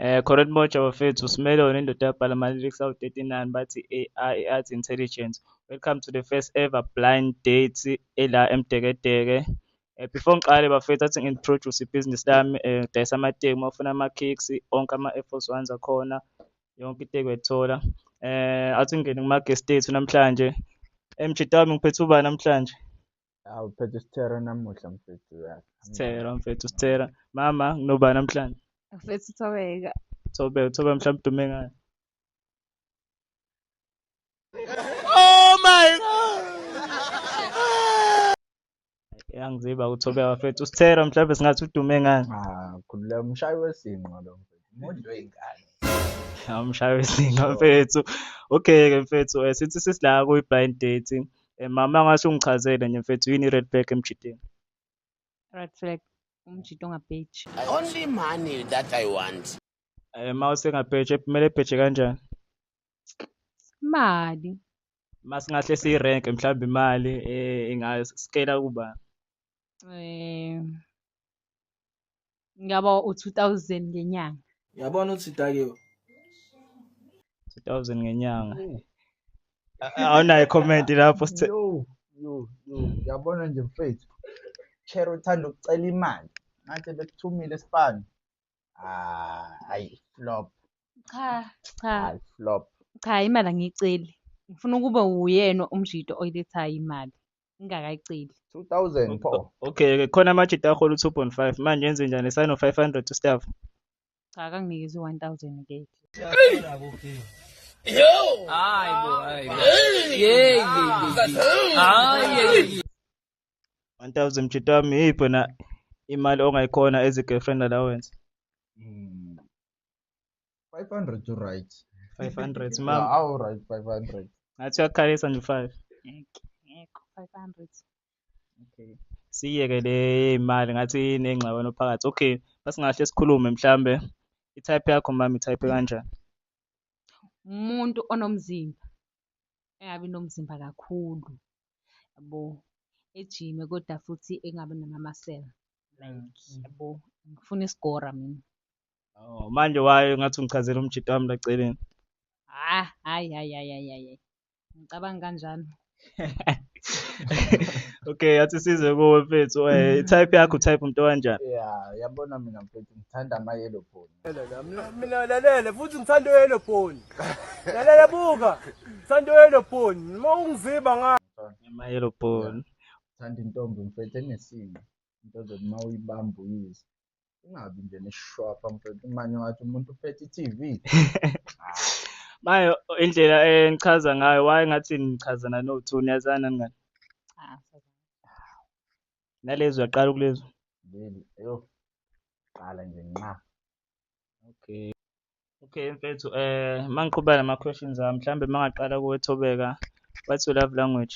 Eh Correct Moja bafethu simele wena indoda yabhala ama lyrics awu 39 bathi AI i art intelligence. Welcome to the first ever blind date ela emdekedeke. Eh before ngiqale bafethu athi ngintroduce ibhizinisi lami eh ngidayisa amateki uma ufuna ama kicks onke ama Air Force Ones akhona yonke iteki uyayithola. Eh athi ngingene kuma guest ethu namhlanje. MJ Tami ngiphethe ubani namhlanje? Awu phethe isithero namuhla mfethu uyazi. Sithera mfethu sithera. Mama nginoba namhlanje. Mfethu Thobeka. Thobe thobe mhlawumbe udume ngayo. Yangiziba uthobe wafethu. Usithera mhlawumbe singathi udume ngani. Ah, khulula umshayi wesinqo lo mfethu. Umuntu weyingane. Awumshayi wesinga mfethu. Okay ke mfethu eh, sithi sisila kuyi blind dating. Eh, mama angase ungichazele nje mfethu yini i-red flag emjideni Red flag. Umjito ongabheji. Only money that I want. Eh, ma usengabheje kumele ebheje kanjani Imali. ma singahle siyirenk mhlawumbe imali eh, ingascala kuba Eh ngaba u-2000 ngenyanga yabona ukuthi idakiwe 2000 ngenyanga awunayo comment lapho sithe yo yo yo yabona nje mfethu chair uthanda ukucela imali ngathi bekuthumile sibani ah hayi flop cha cha hayi flop cha imali angiyiceli ngifuna ukube uyena umjito oyilethayo imali ngingakayiceli 2000 pho okay ke khona amajita ahola u2.5 manje yenze njani sign of 500 to staff cha kanginikeza u1000 ke Yo! Ay, bo, ay, bo. Yey, yey, yey. Ay, yey, yey. 1000 mjita wami yipho na imali ongayikhona as a girlfriend allowance. Mm. 500 to right 500 ma awu right 500 ngathi uyakhalisa nje 5 ngekho 500 okay siyeke le imali ngathi inengxabano phakathi okay basingahle sikhulume mhlambe i-type yakho mama i-type kanjani umuntu onomzimba engabi nomzimba kakhulu yabo ejime kodwa futhi engabi namamasela like mm. yabo ngifuna isigora mina Oh, manje wayo ngathi ungichazela umjito wami la celeni. Ah, hayi hayi hayi hayi hayi. Ngicabanga kanjalo. okay athi size kuwe mfethu eh mm. type yakho type umuntu kanjani yeah yabona mina mfethu ngithanda ama yellow bone mina lalela futhi ngithanda yellow bone lalela buka ngithanda yellow bone uma ungiziba nga ama yellow bone ngithanda intombi mfethu enesimo into zokuthi uma uyibamba uyizwe ungabi nje neshwapha mfethu manje ungathi umuntu uphethe i-tv manje indlela engichaza ngayo waye ngathi nichazana no-two niyazana ningani Ah, nalezi uyaqala ukulezo leli eyo qala nje nqa okay okay mfethu um mangiqhubeka nama-questions ami mhlawumbe mangaqala kuwethobeka what's your love language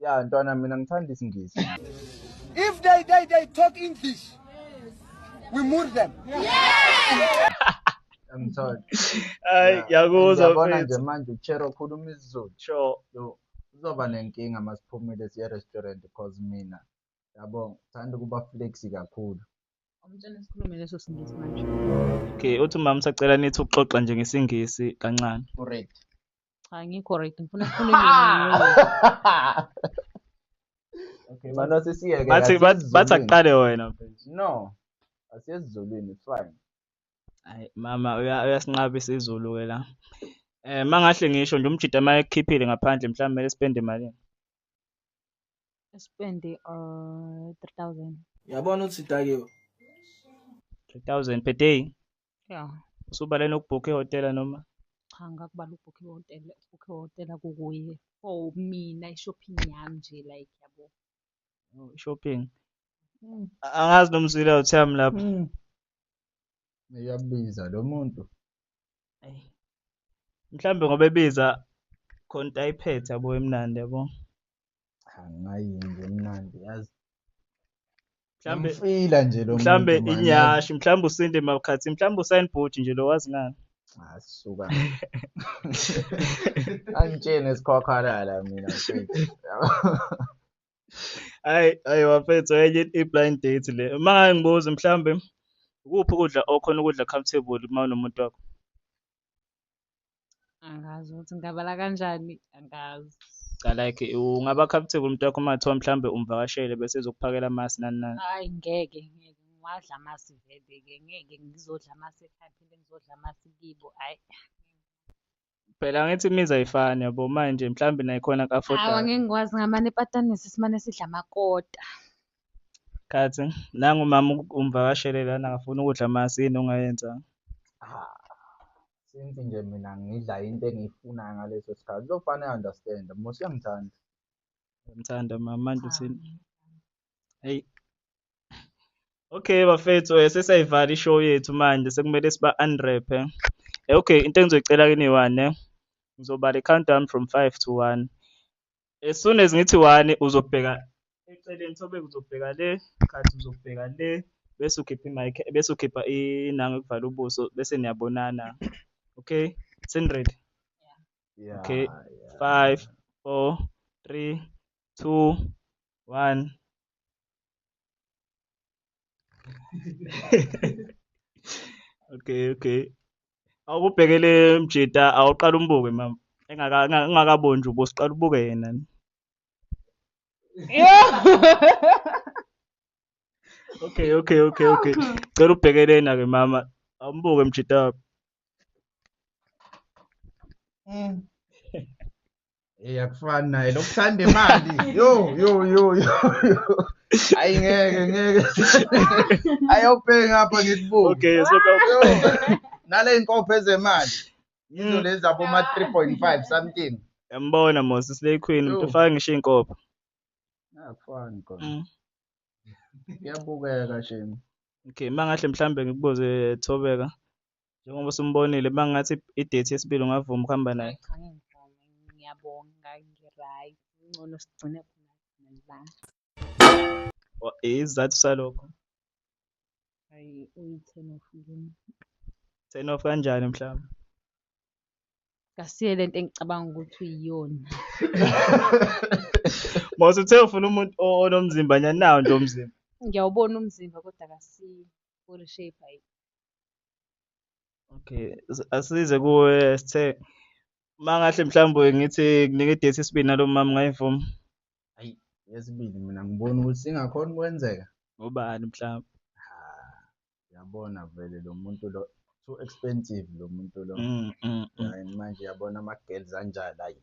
ya ntwana mina ngithanda isingisi if they they they talk english we move them yeah. angitholi hayi ngiyakuzwa yabona nje manje uchero ukhuluma isizulu sure yo uzoba nenkinga masiphumile siye restaurant because mina yabo ngithanda ukuba flexi kakhulu umtshana sikhulume leso singisi manje okay uthi mama sacela nithi ukuxoxa nje ngesingisi kancane correct Cha ngikho right ngifuna ngifuna Okay, manje sisiyeke. Bathi bathi bathi akuqale wena mfethu. No. Asiyezizulwini, it's fine. Hayi mama uya- uyasinqabisa izulu ke la. Eh mangahle ngisho nje umjita uma ekhiphile ngaphandle mhlawumbe kumele spend imalini. spend uh 3000. Yabona ukuthi dakiwe. 3000 per day. ya usubale nokubhukha ihhotela noma cha ngakubala ukubhukha ihhotela ukubhukha ihhotela kukuye for mina i-shopping yami nje like yabo oh, shopping mm. angazi nomzila uthami lapha mm. uyabiza lo muntu mhlawumbe ngoba ebiza khona ayiphethe yabo emnandi yabo angayinto emnandi yazi mhlambe ngifila nje lo mhlambe muntu, man, inyashi mhlambe usinde makhathi mhlambe usayini bhuti nje lo wazi ngani yazi. asuka angitshene sikhwakhalala mina mfethu. hayi hayi wafethu enye i-blind date le uma ngaye ngibuze mhlambe ukuphi ukudla okhona ukudla comfortable uma unomuntu wakho Angazi ukuthi ngingabala kanjani, angazi. Cha like ungaba comfortable umuntu wakho uma kuthiwa mhlawumbe umvakashele bese ezokuphakela amasi nani nani. Hayi ngeke ngeke ngiwadla amasi vele ke ngeke ngizodla amasi ekhaya phinde ngizodla amasi kibo hayi. Phela ngithi imizi ayifani yabo manje mhlawumbe nayikhona Hawu ka-afford-ayo. angeke ngikwazi ngamane epatanisi simane sidla amakota. Khathi nangu mama umvakashele lana ngafuna ukudla masi yini ongayenza? Since nje mina ngidla into engiyifunayo ngaleso sikhathi uzofane understand mos uyangithanda. Ngimthanda mama manje uthini? Hey. Okay bafethu eh, sesayivala ishow yethu manje sekumele siba unwrap eh. eh. Okay into engizoyicela kini one eh. Ngizobala countdown from 5 to 1. as soon as ngithi one uzobheka eceleni sobe uzobheka le khathi uzobheka le bese ukhipha imic bese ukhipha inanga ukuvala ubuso bese niyabonana okay seniready yeah, okay yeah. five four three two one okay okay awubhekele mjita awuqala umbuke mama engakaboni nje ubosiqala ubuke yena okay okay okay okay cela ubhekelena ke mama awumbuke mjita wakho mm. Hey akufani naye lokuthanda imali. Yo yo yo yo. Hayi ngeke ngeke. Ayobheka ngapha ngikubuke. Okay so nale inkopho ezemali. Yizo mm. lezi abo ma 3.5 something. Yambona Mosi Slay Queen umuntu ufaka ngisho inkopho. Akufani khona. Mm. Iyabukeka shame. Okay mangahle mhlambe ngikubuze Thobeka. njengoba usumbonile uma ngathi i-date yesibili ungavuma ukuhamba naye ngiyabonga ngi-right ngcono sigcine khona isizathu salokho ayi uyi-ten off kimi ten off kanjani mhlawumbe kasiye lento engicabanga ukuthi uyiyona mose uthe ufuna umuntu onomzimba nyanawo nje umzimba ngiyawubona umzimba kodwa kasiye body shape ayi Okay, asize kuwe sithe mangahle mhlawumbe ngithi kunike idate isibili nalo mama ngayivuma. Hayi, yesibili mina ngibona ukuthi singakhona ukwenzeka. Ngobani mhlawumbe? Yabona vele lo muntu lo too expensive lo muntu lo. Mm, mm, mm. Hayi manje yabona ama girls anjalo hayi.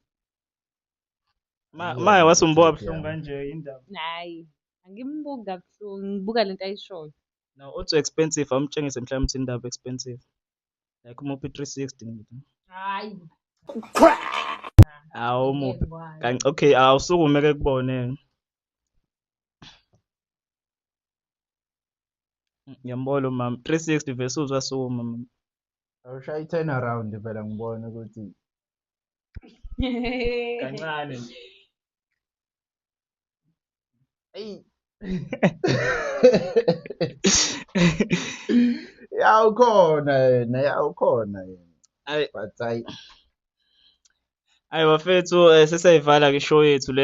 Ma ma wasumbuka buhlungu kanje indaba. Hayi, angimbuki kabuhlungu, ngibuka lento ayishoyo. No, uthi expensive awumtshengise mhlawumbe ukuthi indaba expensive. Like umuphi 360 ngithi. Hayi. Awu muphi. Kanti okay awusukume ke kubone. Ngiyambona umama 360 vese uzwa sukuma mama. Awushaya i-turn around phela ngibone ukuthi kancane nje. eyi ya ukhona yena ya ukhona yena ayi but hayi ayi bafethu eh, sesayivala ke show yethu le